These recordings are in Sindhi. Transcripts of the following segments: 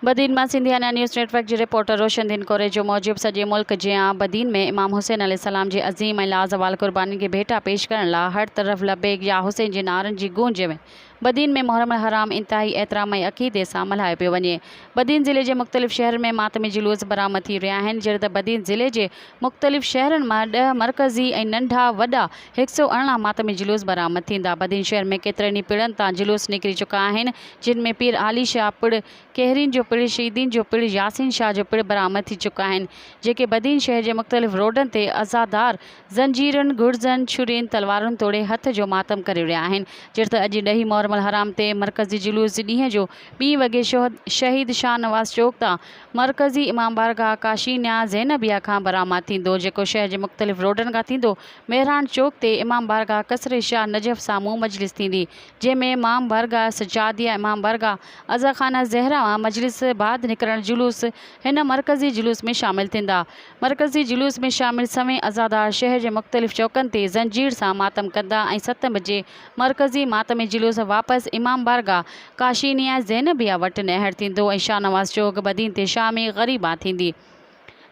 بدين مان سنڌيانا نيوز نيٽ ورڪ جي رپورٽر روشندين ڪوريجو موجب سڄي ملڪ جيان بدين ۾ امام حسين عليه السلام جي عظيم ۽ لازوال قربانين کي ڀيٽا پيش ڪرڻ لا هر طرف لبيڪ يا حسين جي نعرن جي گونج ۾ بدين ۾ محرم الحرام انتهائي احترام ۽ عقيدي سان ملهايو پيو وڃي بدين ضلعي جي مختلف شهرن ۾ ماتمي جلوس برآمد ٿي رهيا آهن جهڙي ته بدين ضلعي جي مختلف شهرن مان ڏهه مرڪزي ۽ ننڍا وڏا هڪ سؤ ارڙهن ماتمي جلوس برآمد ٿيندا. بدين شهر ۾ ڪيترن ئي پڙن تان جلوس نڪري چڪا آهن، جن ۾ پير عالي شاهه پڙ، ڪهرين جو پڙ، شهيدين جو پڙ، ياسين شاهه جو پڙ برآمد ٿي چڪا آهن، جيڪي بدين شهر جي مختلف روڊن تي عزادار زنجيرن، گڙزن، ڇرين، تلوارن توڙي هٿ جو ماتم ڪري رهيا آهن. جهڙ ته اڄ ڏهين محرم الحرام تي مرڪزي جلوس ڏينهن جو ٻين وڳي شهيد شاهنواز چوڪ تان مرڪزي امام بارگاهه ڪاشي نياز زينبيه کان برآمد ٿيندو، جيڪو شهر جي مختلف روڊن کان ٿيندو مهراڻ چوڪ تي امام بارگاهه قصر شاهه نجف سامهون مجلس ٿيندي، جنهن ۾ امام بارگاهه سجاديه، امام بارگاهه عزا خانه زهره مان مجلس بعد نڪرڻ جلوس هن مرڪزي جلوس ۾ شامل ٿيندا. مرڪزي جلوس ۾ شامل سوين عزادار شهر جي مختلف چوڪن تي زنجير سان ماتم ڪندا ۽ ست بجي مرڪزي ماتمي جلوس واپس امام بارگاھ ڪاشي نياز زينبيه وٽ نهر ٿيندو ۽ شاهنواز چوڪ بدين تي شامي غريبان ٿيندي.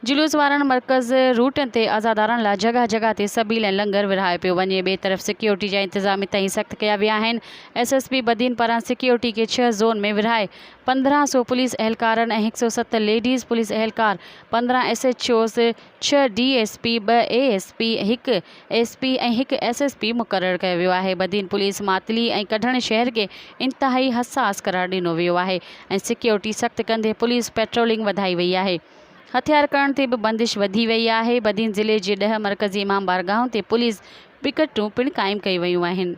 جلوس وارن مرڪز روٽن تي عزادارن لا جڳهه جڳهه تي سبيل ۽ لنگر ورهايو پيو وڃي. ٻئي طرف سيڪيورٽي جا انتظام انتهائي سخت ڪيا ويا آهن. ايس ايس پي بدين پاران سيڪيورٽي کي ڇهه زون ۾ ورهائي پندرهن سو پوليس اهلڪارن ۽ هڪ سؤ ست ليڊيز پوليس اهلڪار، پندرهن ايس ايڇ اوز، ڇهه ڊي ايس پي، ٻه اي ايس پي، هڪ ايس پي ۽ هڪ ايس ايس پي مقرر ڪيو ويو آهي. بدين پوليس ماتلي ۽ ڪڍڻ شهر کي انتهائي حساس قرار ڏنو ويو آهي ۽ سيڪيورٽي سخت ڪندي پوليس پيٽرولنگ وڌائي وئي آهي. هٿيار کڻڻ تي به بندش وڌي وئي آهي. بدين ضلعي جي ڏهه مرڪزي امام بارگاهن تي پوليس پڪيٽون پڻ قائم ڪيون ويون آهن.